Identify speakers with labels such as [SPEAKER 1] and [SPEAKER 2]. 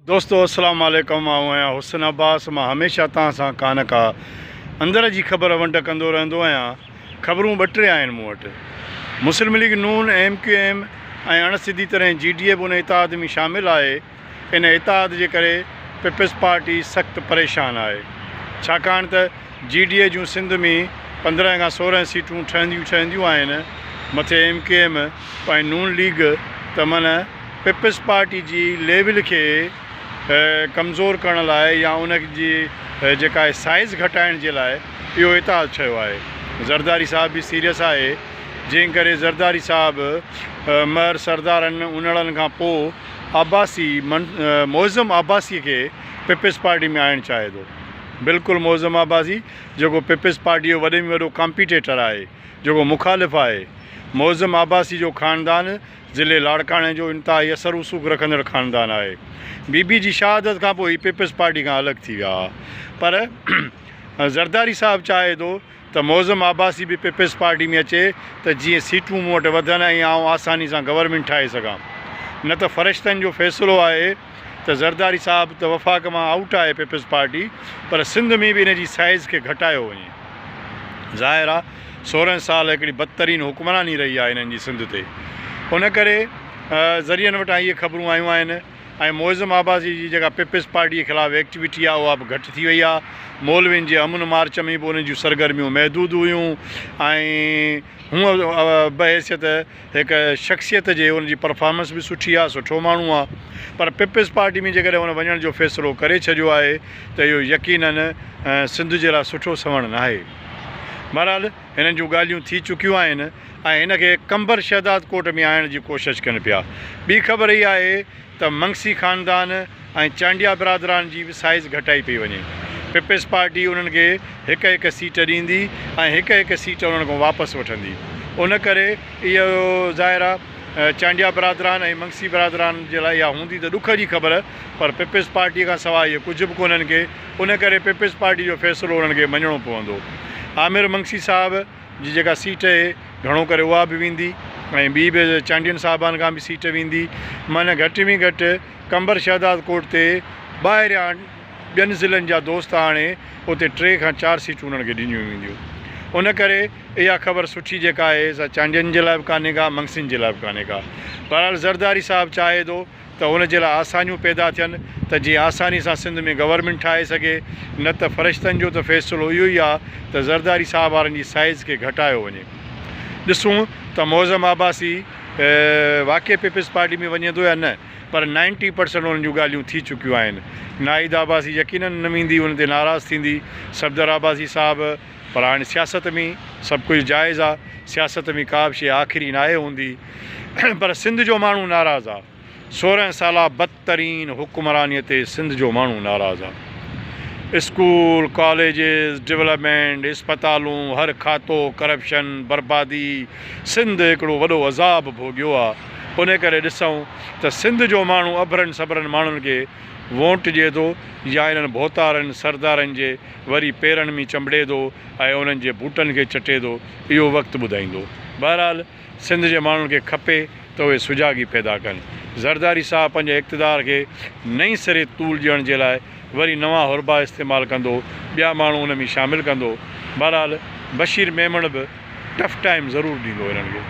[SPEAKER 1] دوستو السلام عليڪم آئون آهيان حسن عباس مان هميشه تان سان ڪا نه ڪا اندر جي خبر ونڊ ڪندو رهندو آهيان خبرون ٻه ٽي آهن مون وٽ مسلم ليگ نون ايم ڪيو ايم ۽ اڻ سڌي طرح جي ڊي اي به ان اتحاد ۾ شامل آهي ان اتحاد جي ڪري پيپلز پارٽي سخت پريشان آهي ڇاڪاڻ ته جي ڊي اي جون سنڌ ۾ پندرهن کان سورهن سيٽون ٺهنديون ٺهنديون آهن مٿي ايم ڪيو ايم ۽ نون ليگ ته من پيپلز پارٽي جي ليول کي ڪمزور ڪرڻ لاء يا ان جي جيڪا آهي سائيز گهٽائڻ جي لاء اهو اتحاد ٺهيو آهي. زرداري صاحب به سيريس آهي جنهن ڪري زرداري صاحب مهر سردارن انڙن کان پوء عباسي معظم عباسي کي پيپلز پارٽي ۾ آڻڻ چاهي ٿو. بلڪل معظم عباسي جيڪو پيپلز پارٽي جو وڏي ۾ وڏو ڪامپيٽيٽر آهي جيڪو مخالف آهي. معظم عباسي جو خاندان ضلعي لاڙڪاڻي جو انتهائي اثر رسوخ رکندڙ خاندان آهي. بي بي جي شهادت کان پوء هي پيپلز پارٽي کان الڳ ٿي ويا ها پر زرداري صاحب چاهي ٿو ته معظم عباسي به پيپلز پارٽي ۾ اچي ته جيئن سيٽون مون وٽ وڌن ۽ آئون آساني سان گورنمينٽ ٺاهي سگهان نه ته فرشتن جو فيصلو آهي ته زرداري صاحب ته وفاق مان آئوٽ آهي پيپلز پارٽي پر سنڌ ۾ به ان جي سائيز کي گهٽايو وڃي ظاهر آهي سورهن سال هڪڙي بدترين حڪمراني رهي آهي انهن جي سنڌ تي ان ڪري ذريعن وٽان اهي خبرون آيون آهن ۽ معظم عباسي جي جيڪا پيپلز پارٽي خلاف ايڪٽيوٽي آهي اها به گهٽ ٿي وئي آهي مولوين جي امن مارچ ۾ به انهن جون سرگرميون محدود هيون ۽ هونء بحيثيت هڪ شخصيت جي ان جي پرفارمنس به سٺي آهي، سٺو ماڻهو آهي پر پيپلز پارٽي ۾ جيڪڏهن هن وڃڻ جو فيصلو ڪري ڇڏيو آهي ته اهو يقيناً سنڌ جي لاء سٺو سنوڻ ناهي. بهرحال هنن جون ڳالهيون ٿي چڪيون آهن ۽ هن کي قنبر شهداد ڪوٽ ۾ آڻڻ جي ڪوشش ڪن پيا. ٻي خبر هي آهي ته منگسي خاندان ۽ چانڊيا برادران جي به سائيز گهٽائي پئي وڃي. پيپلز پارٽي انهن کي هڪ هڪ سيٽ ڏيندي ۽ هڪ هڪ سيٽ انهن کان واپس وٺندي. ان ڪري اهو ظاهر آ چانڊيا برادران ۽ منگسي برادران جي لاء اها هوندي ته ڏک جي خبر پر پيپلز پارٽي کان سواء اهي ڪجهه به ڪونهن کي ان ڪري پيپلز پارٽي جو فيصلو انهن کي مڃڻو پوندو. عامر منگسي صاحب! جي جيڪا سيٽ اهي گهڻو ڪري اها به ويندي ۽ ٻي به چانڊين صاحبان کان به سيٽ ويندي معنيٰ گهٽ ۾ گهٽ قمبر شهداد ڪوٽ تي ٻاهريان ٻين ضلعن جا دوست آڻي اتي ٽي کان چار سيٽون انهن کي ڏنيون وينديون ان ڪري اها خبر سٺي جيڪا آهي سا چانڊين جي لاء به ڪانهي ڪا منگسين جي لاء به ڪانهي ڪا بهرحال زرداري صاحب چاهي ٿو ته ان جي لاء آسانيون پيدا ٿين ته جيئن آساني سان سنڌ ۾ گورنمينٽ ٺاهي سگهي نه ته فرشتن جو ته فيصلو اهو ئي آهي ته زرداري صاحب وارن جي سائيز کي گهٽايو وڃي ڏسون ته معظم عباسي واقعي پيپلز پارٽي ۾ وڃي ٿو يا نه پر نائنٽي پرسنٽ انهن جون ڳالهيون ٿي چڪيون آهن ناهيد عباسي يقينن نه ويندي ان تي ناراض ٿيندي صفدر عباسي صاحب پر هاڻي سياست ۾ سڀ ڪجهه جائز آهي سياست ۾ ڪا به شيء آخري ناهي هوندي. پر سنڌ جو ماڻهو ناراض آ سورهن سالا بدترين حڪمراني تي سنڌ جو ماڻهو ناراض آ اسڪول ڪاليجز ڊولپمينٽ اسپتالون هر کاتو ڪرپشن بربادي سنڌ هڪڙو وڏو عذاب ڀوڳيو آ انهي ڪري ڏسون ته سنڌ جو ماڻهو اڀرن سڀرن ماڻهن کي وونٽ ڏي ٿو يا انهن ڀوتارن سردارن جي وري پيرن مي چنبڙي ٿو ۽ انهن جي بوٽن کي چٽي ٿو اهو وقت ٻڌائيندو بهرحال سنڌ جي ماڻهن کي کپي ته اهي سجاڳي پيدا ڪن. زرداري صاحب پنهنجي اقتدار کي نئين سري طول ڏيڻ جي لاء وري نوان حربا استعمال ڪندو، ٻيا ماڻهو ان ۾ شامل ڪندو. بهرحال بشير ميمڻ به ٽف ٽائيم ضرور ڏيندو هنن کي.